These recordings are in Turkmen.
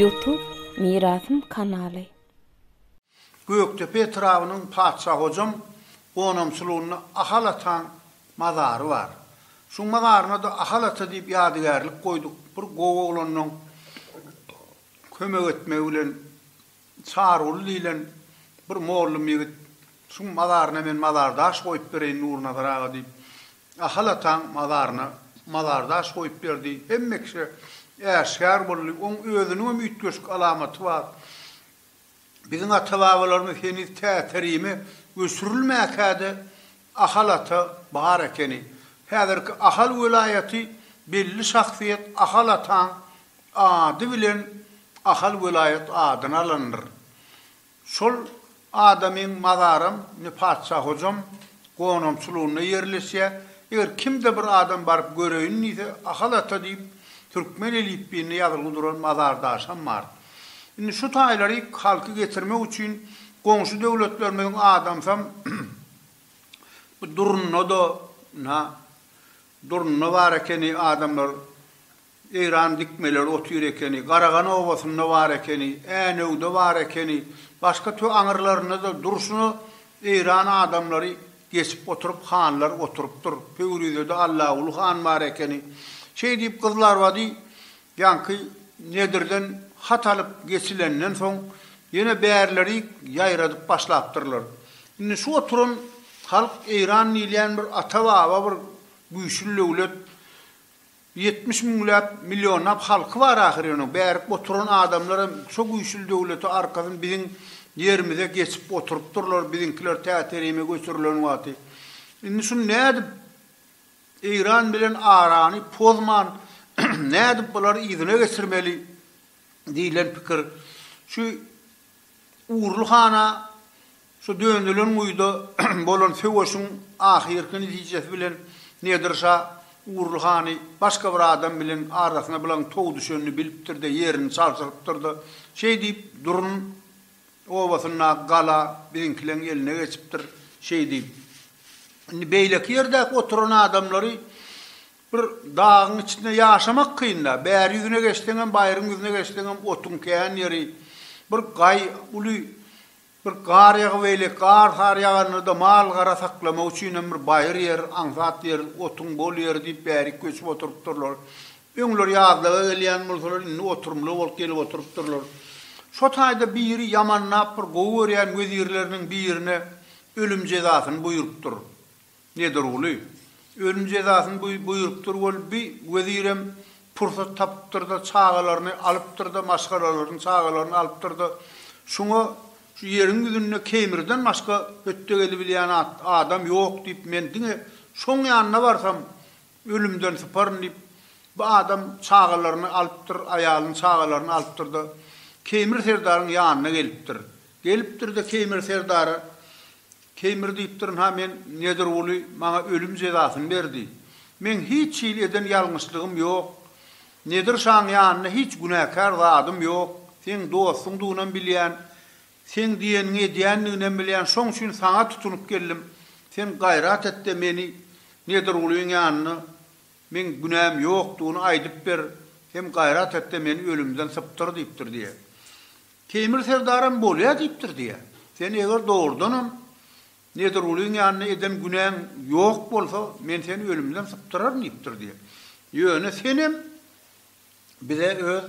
Youtube Mirasym kanaly. Gökdepe etrabynyň Patyşa Hojam gonamçylygynda Ahal ataň mazary bar. Şuň mazaryna-da Ahal ata diýip ýadygärlik goýduk. Bir gowy oglanyň kömek etmegi bilen Çaryguly diýlen bir mollum ýigit, Şuň mazaryna men mazardaş goýup bereýin Nurnazar aga diýip, Ahal ataň mazaryna mazardaş goýup berdi. Hemme kişä äşgär boldy. Oň özüniňem üýtgeşik alamaty bar. Biziň ata-babalarymyz heniz Täterime göçürilmäkä-de, Ahal ata bar ekeni. Häzirki Ahal welaýaty belli şahsyýet Ahal ataň ady bilen Ahal welaýat adyny alandyr. Şol adamyň mazaram indi Patyşa Hojam gonamçylygynda ýerleşýä. Eger kimde bir adam baryp göreýin diýse Ahal ata diýip türkmen elipbiýinde ýazylgy duran mazardaşam bar. Indi şu taýlary halky getirmek üçin goňşy döwletlerimiziň adamsam bu durunda-da na durunda bar ekeni adamlar Eýran dikmeleri otyr ekeni, Garagan obasynda bar ekeni, Änewde bar ekeni, başga tö aňyrlarynda-da durşuna Eýran adamlary geçip oturyp hanlar oturypdyr. Pöwrizede Allaguly han bar ekeni. Şeý diýip gyzlarbady Ýaňky Nedirden hat alyp geçilenden soň, ýene bärlerik ýaýradyp başlapdyrlar. Indi şu oturan halk Eýran diýilýän bir ata-baba bir güýçli döwlet, ýetmiş müňläp, millionlap halky bar ahyry onuň, bärik oturan adamlar hem şo güýçli döwlete arkasyn biziň ýerimize geçip oturypdyrlar, biziňkiler tä-terime göçürilen wagty. Indi şuny nädip Eýran bilen arany pozman, nädip bulary yzyna geçirmeli diýlen pikir şu Urly hana şu dönülen guýuda bolan söweşiň ahyrky netijesi bilen Nedir şa Urly hany başga bir adam bilen arasyna bulaň tow düşenini bilipdir-de ýerini çalşyrypdyr-da şeýdip durun obasyndaky gala biziňkileň eline geçipdir, şeý diýip, indi beýleki ýerdäki oturan adamlary bir dagyň içinde ýaşamak kyn-da, bäri ýüzüne geçseňem, baýryň ýüzüne geçseňem otuň kän ýeri, bir gaý, uly bir gar ýagybeýle, gar sary ýaganda-da mal-gara saklamak üçinem bir baýyr ýer, aňsat ýer, otuň bol ýeri diýip bärik göçüp oturypdyrlar. Öňler ýazlaga gelýän bolsalar, indi oturymly bolup gelip oturypdyrlar. Şo taýda biri ýamanlap bir gowy görýän wezirleriniň birine ölüm jezasyny buýrupdyr. Nedirguly. Ölüm jezasyny buýrupdyr bolup bi wezirem pursat tapypdyr-da, çagalaryny alypdyr-da, maşgalalaryny, çagalaryny alypdyr-da, şuňa Şu ýeriň ýüzünde Keýmirden başga hötde gelibilýän adam ýok diýip, men diňe şoň ýanyna barsam, Ölümden syparyn diýip, bu adam çagalaryny alypdyr, aýalyny, çagalaryny alypdyr-da, Keýmir serdaryň ýanyna gelipdir. Gelipdir-de, Keýmir serdara, Keýmir diýipdir, ynha, men Nedirguly maňa ölüm jezasyny berdi. Meň hiç hili eden ýalňyşlygym ýok. Nedir şaň ýanynda hiç günäkär zadym ýok. Seň dostuňdygynam bilýän. Seň diýeniňi edýändiginem bilýän, şoň üçin saňa tutunyp geldim. Sen gaýrat et-de meni Nedirgulyň ýanyna, meň günäm ýokdugyny aýdyp ber, hem gaýrat et-de meni ölümden sypdyr diýipdir diýýär. Teýmir serdaram bolýa diýipdir diýýär. Sen eger dogrudanam Nedirgulyň ýanyna eden günäň ýok bolsa, men seni ölümden sypdyraryn diýipdir diýýär. Ýöne senem bize öz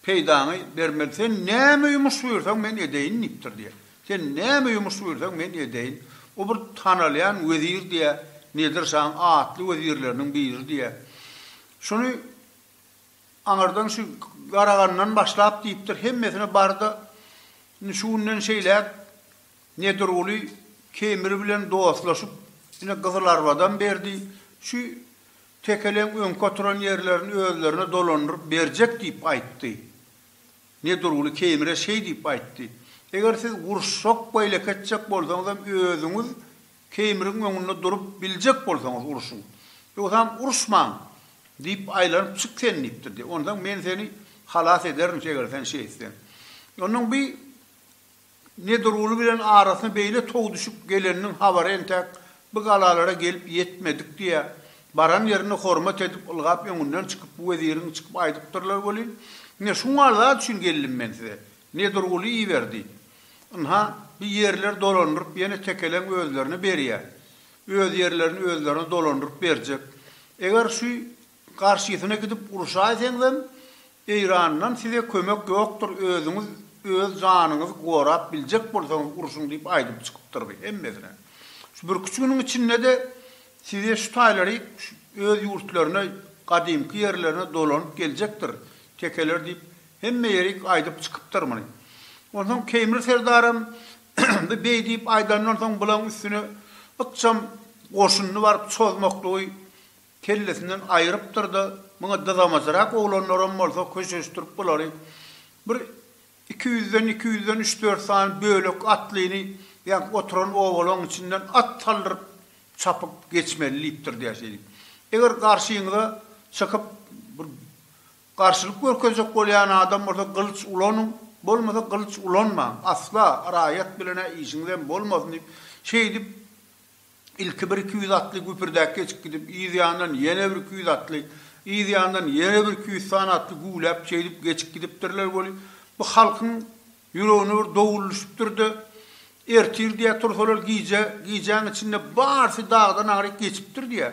Peýdaňy bermez. Sen näme ýumuş buýursaň, men edeýin diýipdir diýýär. Sen näme ýumuş buýursaň, men edeýin. O bir tanalýan wezir diýýär. Nedir şaň atly wezirleriniň biri diýýär. Şuny aňyrdan şu Garagandan başlap diýipdir, hemmesine bar-da, indi şu günden şeýläk Nedirguly Kemir bilen dostlaşyp, ine Gyzylarbadan berdi. Şu Tekeleň öňki oturan ýerlerini özlerine dolandyryp berjek diýip aýtdy. Nedirguly Keýmire şeý diýip aýtdy, Eger siz uruşjak we elek etjek bolsaňyzam özüňiz Keýmiriň öňünde durup biljek bolsaňyz uruşyň. Ýogsam uruşmaň! Diýip aýlanyp çyk sen diýipdir diýip. Onsoň men seni halas ederin eger sen şeý etseň. Onsoň bi Nedirguly bilen arasyna beýle tow düşüp geleniniň habary entäk bu galalara gelip ýetmedik diýä. Baran ýerinde hormat edip, ylgap öňünden çykyp, bu weziriň çykyp aýdypdyrlar welin, Ine, şu mal zat üçin geldim men size. Nedirguly iber diýip. Ynha, bu ýerleri dolandyryp, ýene tekeleň özlerine berýä. Öz ýerlerini özlerine dolandyryp berjek. Eger şu Garşysyna gidip uruşaýseňzem Eýrandan size kömek ýokdur özüňiz öz janyňyzy gorap biljek bolsaňyz urşuň diýip aýdyp çykypdyrdy hemmesine. Şu birküç günüň içindede size şu taýlary öz ýurtlaryna gadymky ýerlerine dolanyp geljekdir tekeler diýip hemme ýerik aýdyp çykypdyr muny. Onsoň Keýmir serdaram bu beý diýip aýdandan soň bulaň üstüne ykjam goşunyny baryp çozmaklygy kellesinden aýrypdyr-da, muňa dyzamajyrak oglanlaram bolsa köşeşdirip bulary bir iki ýüzden, iki ýüzden üç-dört sany bölek atlyny ýaňky oturan obalaň içinden at saldyryp çapyp geçmeli diýipdir diýýär şeýdip. Eger garşyňyza çykyp bir garşylyk görkezjek bolýan adam bolsa gylyç ulanyň, bolmasa gylyç ulanmaň, asla raýat bilen-ä işiňizem bolmasyn diýip, şeýdip, Ilki bir iki ýüz atly güpürdäp geçip gidip, yz ýandan ýene bir iki ýüz atly, yz ýandan ýene bir iki ýüz sany atly güwläp, şeýdip geçip gidipdirler weli, bu halkyň ýüregine bir dowul düşüpdir-de, ertir diýýär tursalar gije, gijäň içinde barsy dagdan aňryk geçipdir diýýär.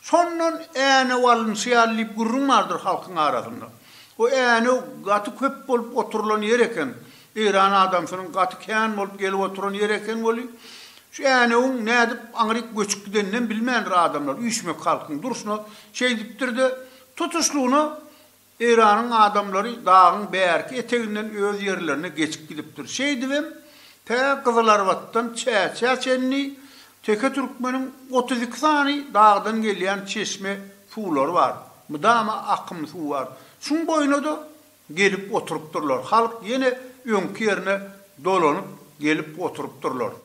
Şondan Änew alynşy ýaly diýip gürrüň bardyr halkyň arasynda. O Änew gaty köp bolup oturylan ýer eken. Eýran adamsynyň gaty kän bolup gelip oturan ýeri eken weli, şu Änewiň nädip aňryk göçüp gideninem bilmändir adamlar, üýşmek halkyň durşuna şeýdipdir-de, tutuşlygyna Eýranyň adamlary dagyň bärki eteginden öz ýerlerine geçip gidipdir. Şeýdibem, tä Gyzylarbatdan Çäçä çenli teke türkmeniň otuz iki sany dagdan gelýän çeşme suwlary bar, mydama akym suw bar. Şuň boýuna-da Gelip oturypdyrlar. Halk ýene öňki ýerine dolanyp gelip oturypdyrlar.